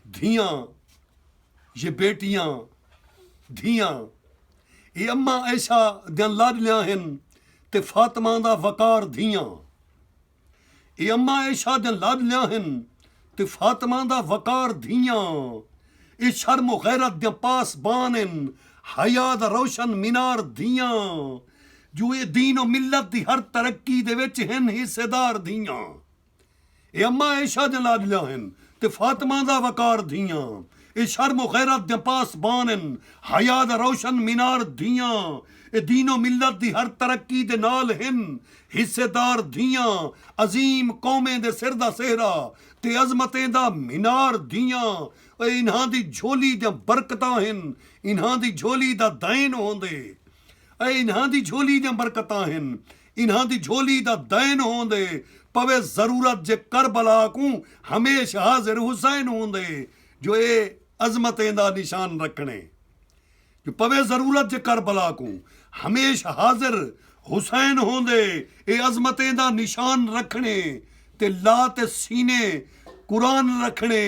دھیاں یہ بیٹیاں دھیاں یہ اماں عائشہ دیاں لاڈلیاں ہن تے فاطمہ دا وقار دھیاں یہ اماں عائشہ دیاں لاڈلیاں ہن تے فاطمہ دا وقار دھیاں یہ شرم و غیرت دیاں پاسبان ہن حیا دا روشن مینار دھیاں جو اے دین و ملت دی ہر ترقی دے وچ ہن حصے دار دھیاں۔ اے اماں عیشا دیاں لاڈلیاں ہن تے فاطمہ دا وقار دھیاں اے شرم و غیرت دیاں پاسبان ہن حیا دا روشن مینار دھیاں اے دین و ملت دی ہر ترقی دے نال ہن حصے دار دھیاں عظیم قومیں دے سر دا سہرا تے عظمتیں دا مینار دھیاں اے انہاں دی جھولی دیاں برکتاں ہن انہاں دی جھولی دا دین ہوندے۔ اے انہاں دی جھولی دیاں برکتاں ہن۔ انہاں دی جھولی دا دین ہوندے پوے ضرورت جے کربلا کوں ہمیش حاضر حسین ہوندے جو اے عظمتیں دا نشان رکھنڑے جو پوے ضرورت جے کربلا کوں ہمیش حاضر حسین ہوندے اے عظمتیں دا نشان رکھنڑے تے لا تے سینے قرآن رکھنڑے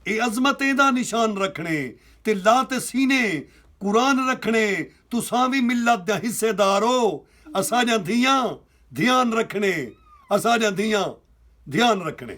اے عظمتیں دا نشان رکھنڑے تے لا تے سینے قرآن رکھݨے تساں وی ملت دیاں حصے دار او اساݙیاں دھیاں دھیان رکھݨے اساݙیاں دھیاں دھیان رکھݨے۔